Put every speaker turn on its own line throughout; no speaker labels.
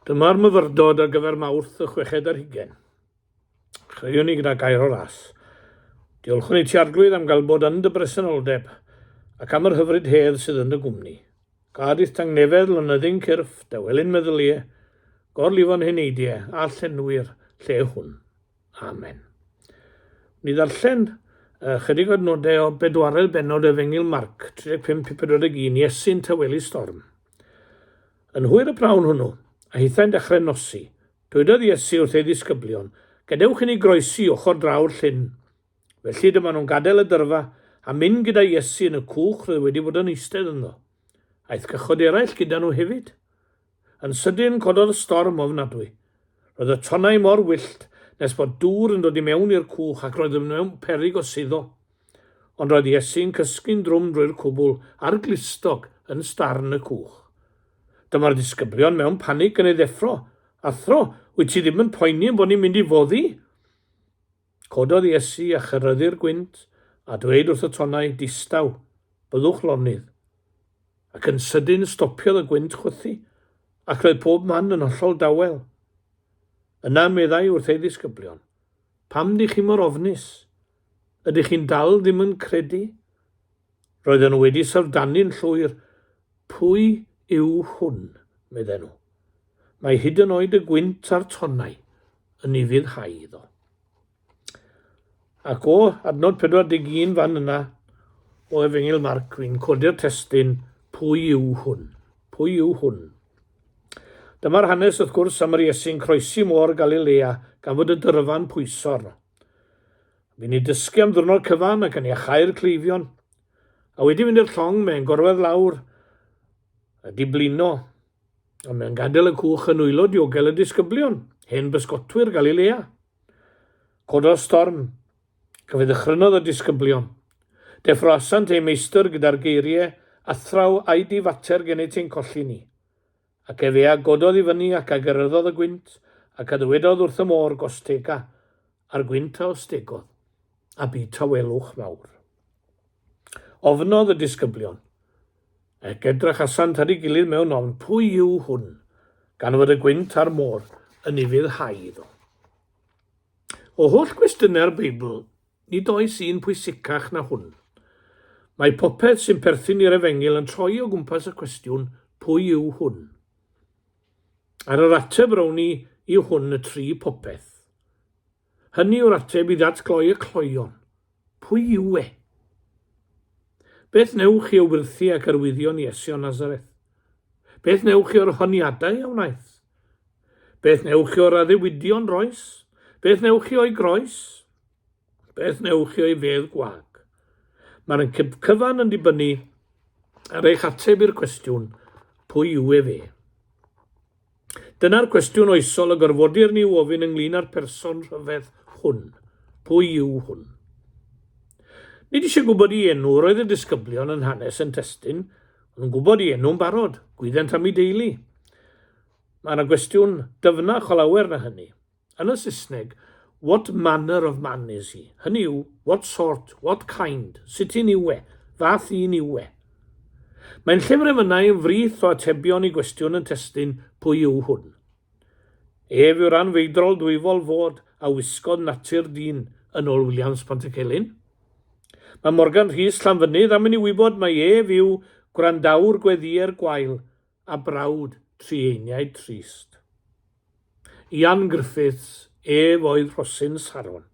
Dyma'r myfyrdod ar gyfer Mawrth y chweched ar hugen. Chreiwn ni gyda gair o ras. Diolchwn i ti arglwydd am gael bod yn dy bresenoldeb ac am yr hyfryd hedd sydd yn dy gwmni. Gadith tangnefedd lonyddyn cyrff, dawelyn meddyliau, gorlifon heneidiau a llenwi'r lle hwn. Amen. Ni ddarllen uh, chydig o'r nodau o bedwaredd benod y fengil Marc 35-41 Iesu'n tawelu storm. Yn hwyr y prawn hwnnw, a hithau'n dechrau nosi, dwedodd Iesu wrth ei ddisgyblion, Gadewch i ni groesi ochr draw'r llyn. Felly dyma nhw'n gadael y dyrfa a mynd gyda Iesu yn y cwch roedd wedi bod yn eistedd ynddo. Aeth cychod eraill gyda nhw hefyd. Yn sydyn cododd storm ofnadwy. Roedd y tonnau mor wyllt nes bod dŵr yn dod i mewn i'r cwch ac roedd yn mewn peryg o suddo. Ond roedd Iesu'n cysgu'n drwm drwy'r cwbl a'r glustog yn starn y cwch. Dyma'r disgyblion mewn panig yn ei ddeffro. Athro, wyt ti ddim yn poeni ein bod ni'n mynd i foddi? Cododd Iesu a chyrryddu'r gwynt, a dweud wrth y tonnau, Distaw, byddwch lonydd. Ac yn sydyn stopiodd y gwynt chwythu, ac roedd pob man yn hollol dawel. Yna meddai wrth ei ddisgyblion, Pam dych chi mor ofnus? Ydych chi'n dal ddim yn credu? Roedden nhw wedi syfrdanu'n llwyr, Pwy yw hwn? medden nhw. Mae hyd yn oed y gwynt a'r tonnau yn ufuddhau iddo. Ac o adnod 41 fan yna, o Efengyl Marc, fi'n codi'r testyn, Pwy yw hwn? Pwy yw hwn? Dyma'r hanes, wrth gwrs, am yr Iesu'n croesi môr Galilea gan fod y dyrfa'n pwyso arno. Fi'n ei dysgu am ddwrnod cyfan ac yn iachau'r cleifion. A wedi mynd i'r llong, mae'n gorwedd lawr a diblino, a mae'n gadael y cwch yn wylo diogel y disgyblion, hen bysgotwyr Galilea. Cododd storm. Cafyd ddychrynodd y disgyblion. Deffroasant eu meistr gyda'r geiriau, athraw a'i di fater gennyt ein colli ni. Ac efe a gododd i fyny ac a gyrryddodd y gwynt, ac a ddywedodd wrth y môr, Gostega, a'r gwynt a ostegodd, a bu tawelwch fawr. Ofnodd y disgyblion, ac edrachasant ar ei gilydd mewn ofn, Pwy yw hwn, gan fod y gwynt a'r môr yn ufuddhau iddo? O holl gwestiynau'r Beibl, Nid oes un pwysicach na hwn. Mae popeth sy'n perthyn i'r Efengyl yn troi o gwmpas y cwestiwn, pwy yw hwn? Ar yr ateb rowni yw hwn y tri popeth. Hynny yw'r ateb i ddatgloi y cloeon. Pwy yw e? Beth newch chi o wyrthi ac arwyddion Iesu o Nazareth? Beth newch chi o'r honiadau a wnaeth? Beth wnewch chi o'r addewidion roes? Beth wnewch chi o'i groes? Beth wnewch chi o'i fedd gwag? Mae'r yn cyfan yn dibynnu ar eich ateb i'r cwestiwn, pwy yw ef e? Dyna'r cwestiwn oesol y gorfodir ni ofyn ynglyn â'r person rhyfedd hwn. Pwy yw hwn? Nid eisiau gwybod i enw, roedd y disgyblion yn hanes yn testyn, O'n nhw'n gwybod i enw'n barod, gwyddent am ei deulu. Mae yna gwestiwn dyfnach o lawer na hynny. Yn y Saesneg, what manner of man is he? Hynny yw, what sort, what kind, sut un yw e, fath un yw e. Mae'n llyfr emynau yn frith o atebion i gwestiwn yn testun pwy yw hwn. Ef yw'r anfeidrol dwyfol fod a wisgodd natur dyn yn ôl Williams Pantycelyn. Mae Morgan Rhys Llanfynydd am i ni wybod mai ef yw gwrandawr gweddïer gwael a brawd trieiniaid trist. Ian Griffiths, ef oedd Rhosyn Saron,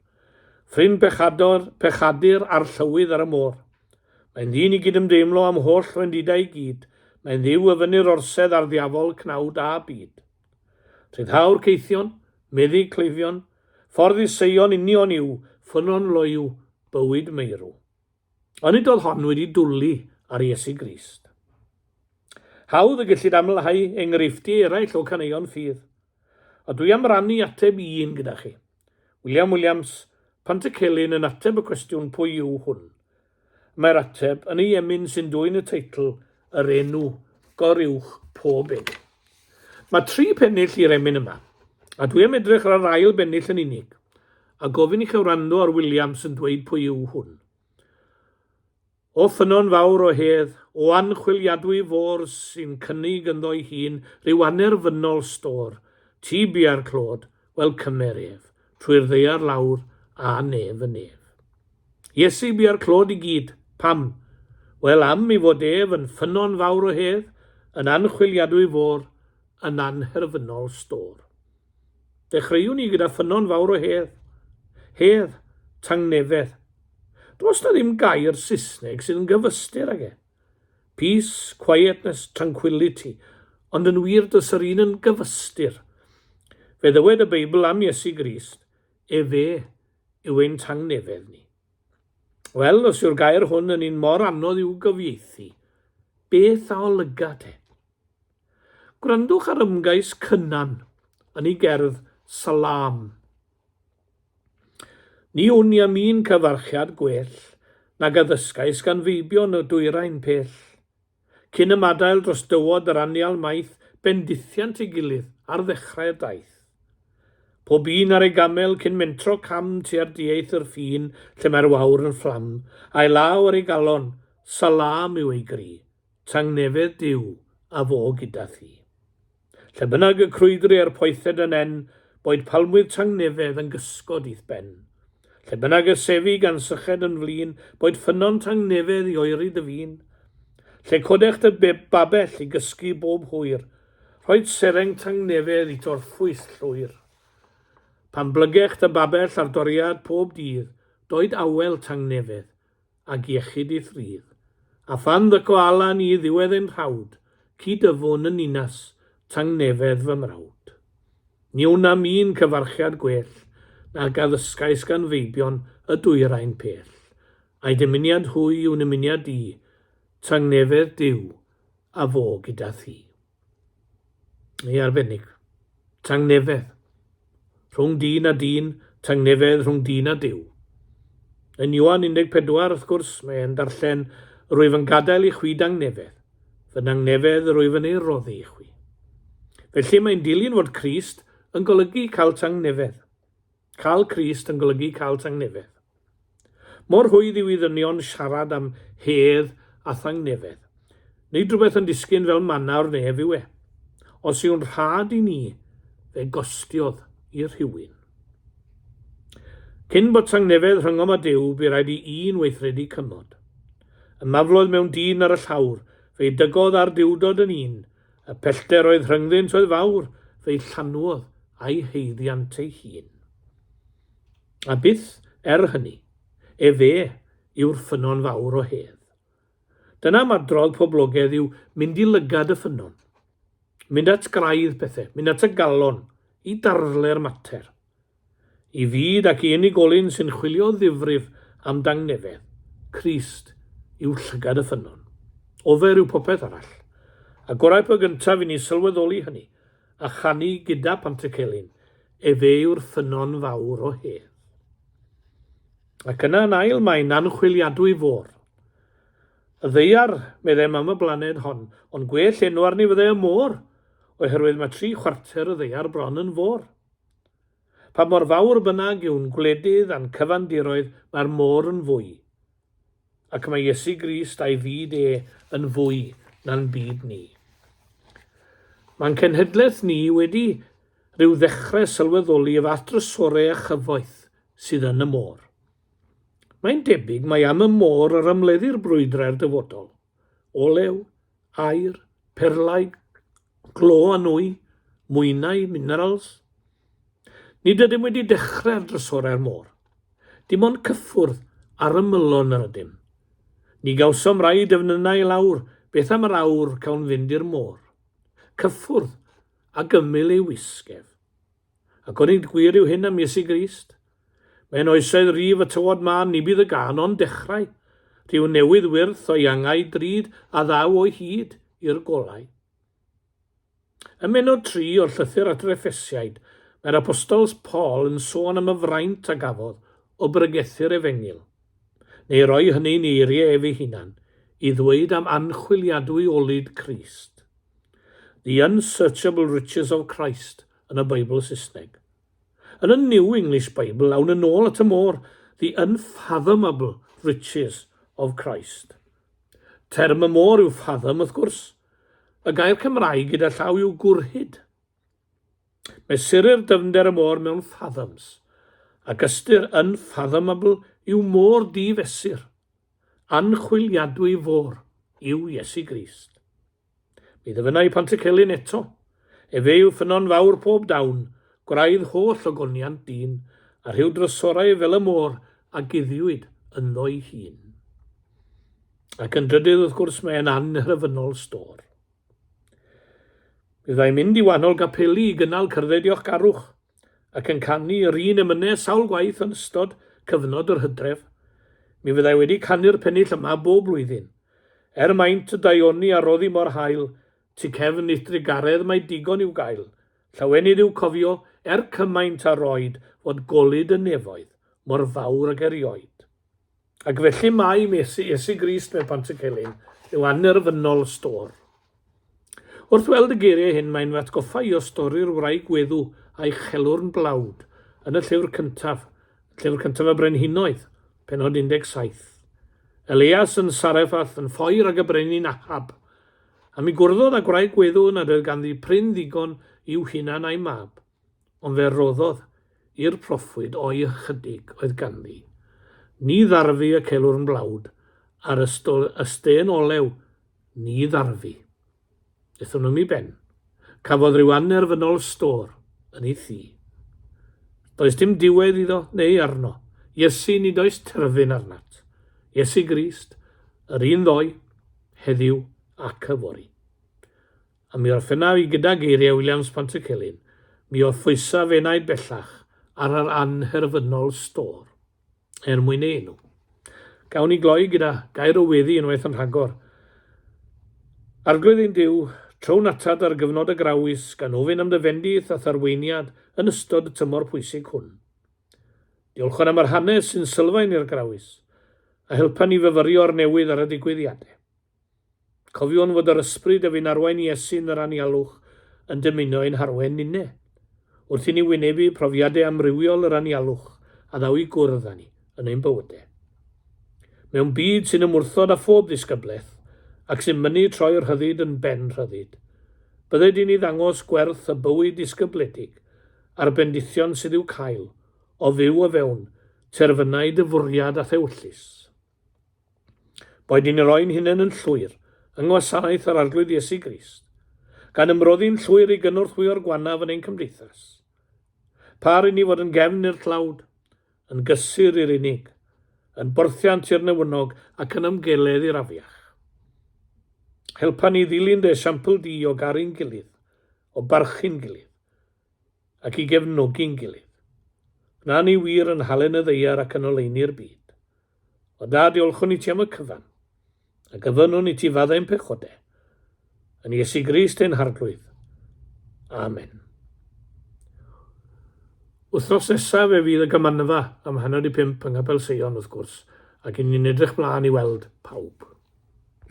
ffrind pechador, pechadur a'r llywydd ar y môr. Mae'n ddyn i gydymdeimlo â'm holl wendidau i gyd, mae'n dduw y fynnir orsedd a'r ddiafol cnawd a byd. Rhyddhawr caethion, meddyg cleifion, ffordd i Seion union yw, ffynnon loyw, bywyd meirw. Onid oedd hon wedi dwlu ar Iesu Grist? Hawdd y gellid amlhau enghreifftiau eraill o caneuon ffydd, a dwi am rannu ateb i un gyda chi. William Williams, Pantycelyn yn ateb y cwestiwn pwy yw hwn? Mae'r ateb yn ei emyn sy'n dwyn y teitl Yr Enw Goruwch Pob Enw. Mae tri phennill i'r emyn yma, a dwi am edrych ar yr ail bennill yn unig, a gofyn i chi wrando ar Williams yn dweud pwy yw hwn. O ffynnon fawr o hedd, o anchwiliadwy fôr sy'n cynnig ynddo'i hun rhyw anerfynol stôr, ti bia'r clod, wel cymer ef, trwy'r ddaear lawr, a nef yn ef. Iesu bia'r clod i gyd. Pam? Wel, am ei fod ef yn ffynnon fawr o hedd, yn anchwiliadwy fôr, yn anherfynol stôr. Dechreuwn ni gyda ffynnon fawr o hedd. Hedd, tangnefedd. Does na ddim gair Saesneg sydd yn gyfystyr ag e. Peace, quietness, tranquility, ond yn wir does yr un yn gyfystyr. Fe ddywed y Beibl am Iesu Grist, efe yw ein tangnefedd ni. Wel, os yw'r gair hwn yn un mor anodd i'w gyfieithu, beth a olyga te? Gwrandwch ar ymgais Cynan yn ei gerdd Salaam. Ni wn i am un cyfarchiad gwell nag a ddysgais gan feibion o dwyrain pell. Cyn ymadael dros dywod yr anial maith bendithiant ei gilydd ar ddechrau'r daith. Pob un ar ei gamel cyn mentro cam tua'r dieith yr ffin lle mae'r wawr yn fflam, a'i law ar ei galon, Salaam yw ei gri. Tangnefedd Duw, a fo gyda thi. Lle bynnag y crwydri a'r poethed yn en, boed palmwydd tangnefedd yn gysgod i'th ben. Lle bynnag y sefi gan syched yn flin, boed ffynnon tangnefedd i oeri dy fin. Lle codech dy babell i gysgu bob hwyr, rhoed sereng tangnefedd i torffwys llwyr. Pan blygech dy babell ar doriad pob dydd, doed awel tangnefedd, ag iechyd ei thrydd, a phan ddyco Alan i ddiwedd ein rhawd, cyd-yfwn yn ninas tangnefedd fy mrawd. Ni wnam un cyfarchiad gwell nag a ddysgais gan feibion y dwyrain pell, ai dymuniad hwy yw nymuniad di, tangnefedd Duw, a fo gyda thi. Mae arbennig. Tangnefedd. Rhwng dyn a dyn, tangnefedd rhwng dyn a Duw. Yn Ioan 14, wrth gwrs, mae e'n darllen, Rwyf yn gadael i chwi dangnefedd. Fy nangnefedd yr wyf yn ei roddi i chwi. Felly mae'n dilyn fod Crist yn golygu cael tangnefedd. Cael Crist yn golygu cael tangnefedd. Mor rhwydd yw i ddynion siarad am hedd a thangnefedd. Nid rhywbeth yn disgyn fel manna o'r nef yw e. Os yw'n rhad i ni, fe gostiodd i rhywun. Cyn bod tangnefedd rhyngom a Duw, bu rhaid i un weithredu cymod. Y mafloedd mewn dyn ar y llawr, fe dygodd ar Duwdod yn un, Y pellter oedd rhyngddynt oedd fawr, fe'i llanwodd a'i haeddiant ei hun. A byth, er hynny, efe yw'r ffynnon fawr o hedd. Dyna am adrodd poblogedd yw mynd i lygad y ffynnon, mynd at graidd pethau, mynd at y galon, i darfle'r mater. I fyd ac i unigolyn sy'n chwilio ddifrif am dangnefedd, Crist yw llygad y ffynnon. Ofer yw popeth arall. A gorau pe gyntaf i ni sylweddoli hynny, a chanu gyda Pantycelyn, Efe yw'r ffynnon fawr o hedd. Ac yna yn ail mae'n anchwiliadwy fôr. Y ddaear, meddem am y blaned hon, ond gwell enw arni fyddai y môr, oherwydd mae tri chwarter y ddaear bron yn fôr. Pa mor fawr bynnag yw'n gwledydd a'n cyfandiroedd, mae'r môr yn fwy. Ac mae Iesu Grist a'i fyd e yn fwy na'n byd ni. Mae'n cenhedlaeth ni wedi rhyw ddechrau sylweddoli y fath drysore a chyfoeth sydd yn y môr. Mae'n debyg mai am y môr yr ymleddir brwydrau'r dyfodol. Olew, aer, perlau, glo a nwy, mwynau, minerals. Nid ydym wedi dechrau'r drysorau'r môr. Dim ond cyffwrdd ar ymylon yr ydym. Ni gawsom rai defnynnau i lawr, beth am yr awr cawn fynd i'r môr? Cyffwrdd, a gymyl ei wisgef. Ac onid gwir yw hyn am Iesu Grist? Mewn oesoedd rif y tywod mân ni bydd y gân ond dechrau, rhyw newydd wyrth o iangau drud a ddaw o hyd i'r golau. Ym menod tri o'r llythyr at yr Effesiaid, mae'r apostol Paul yn sôn am y fraint a gafodd o bregethu'r efengyl, neu roi hynny'n eiriau ef ei hunan, i ddweud am anchwiliadwy olud Crist. The unsearchable riches of Christ, yn y Beibl Saesneg. Yn y New English Bible, awn yn ôl at y môr, the unfathomable riches of Christ. Term y môr yw fathom, wrth gwrs. Y gair Cymraeg gyda llaw yw gwrhyd. Mesurir dyfnder y môr mewn fathoms, ac ystyr yn fathomable yw môr difesur. Anchwiliadwy fôr yw Iesu Grist. Mi ddyfynna i Pantycelyn eto. Efe yw ffynnon fawr pob dawn, gwraidd holl ogoniant dyn, a rhyw drysorau fel y môr a guddiwyd ynddo'i hun. Ac yn drydydd, wrth gwrs, mae e'n annghrefynnol stôr. Mi fyddai'n mynd i wahanol gapeli i gynnal cyrdded diolchgarwch, ac yn canu yr un emynau sawl gwaith yn ystod cyfnod yr hydref. Mi fyddai wedi canu'r pennill yma bob blwyddyn. Er maint y daioni a roddi mor hael, tu cefn Eithdrig Garedd mae digon i'w gael. Llawenydd yw cofio, er cymaint a roed, fod golud y nefoedd mor fawr ag erioed. Ac felly mae Mesi, Iesu Grist mewn Pantycelyn, yw annerfynol y stor. Wrth weld y geiriau hyn mae'n fy atgoffa i o stori'r wraig gweddw a'i chelwrn blawd yn y llyfr cyntaf, llyfr cyntaf y Brenhinoedd, penod 17. Elias yn Sarefath yn ffoi rhag y brenin Ahab, a mi gwrddodd â gwraig gweddw nad oedd ganddi prin ddigon i'w hunan a'i mab. Ond fe roddodd i'r proffwyd o'i ychydig oedd ganddi. Ni ddarfu y celwrn blawd a'r ystol ystên olew, ni ddarfu. Ethon nhw'm i ben. Cafodd ryw annerfynol stôr yn ei thŷ. Does dim diwedd iddo neu arno. Iesu, nid oes terfyn arnat. Iesu Grist, yr un ddoe, heddiw ac yfory. A mi orffennaf i gyda geiriau Williams Pantycelyn, Mi orffwysaf enaid bellach ar yr annherfynol stôr, er mwyn ei enw. Gawn ni gloi gyda gair o weddi unwaith yn rhagor. Arglwydd ein Duw, trown atad ar gyfnod y Grawys gan ofyn am dy fendith a'th arweiniad yn ystod y tymor pwysig hwn. Diolchwn am yr hanes sy'n sylfaen i'r Grawys, a helpa ni fyfyrio ar newydd ar y digwyddiadau. Cofiwn fod yr ysbryd a fu'n arwain Iesu yn yr anialwch yn dymuno ein harwain ninne. Wrth i ni wynebu profiadau amrywiol yr anialwch, a ddaw i gwrdd â ni yn ein bywyde. Mewn byd sy'n ymwrthod â phob ddisgyblaeth, ac sy'n mynnu troi'r rhyddid yn ben rhyddid, bydde di'n ni ddangos gwerth y bywyd disgybledig a'r bendithion sydd i'w cael o fyw o fewn terfynau dy fwriad a thewyllys. Boed ni'n roi'n hunain yn llwyr yng ngwasanaeth yr Arglwydd Iesu Grist, gan ymroddi'n llwyr i gynorthwyo'r gwannaf yn ein cymdeithas, pa ry'n ni fod yn gefn i'r tlawd, yn gysur i'r unig, yn borthiant i'r newynog ac yn ymgeledd i'r afiach. Helpa ni ddilyn dy esiampl di o garu'n gilydd, o barchu'n gilydd, ac i gefnogi'n gilydd. Gwna ni wir yn halen y ddeiar ac yn oleuni'r byd. O Dad, diolchwn i ti am y cyfan, a gyfynwn i ti faddau'n pechode. Yn Iesu Grist ein harglwydd. Amen. Wythnos nesaf fe fydd y gymanfa am hanner i pump yng Nghapel Seion, wrth gwrs, ac yn ni'n edrych mlaen i weld pawb.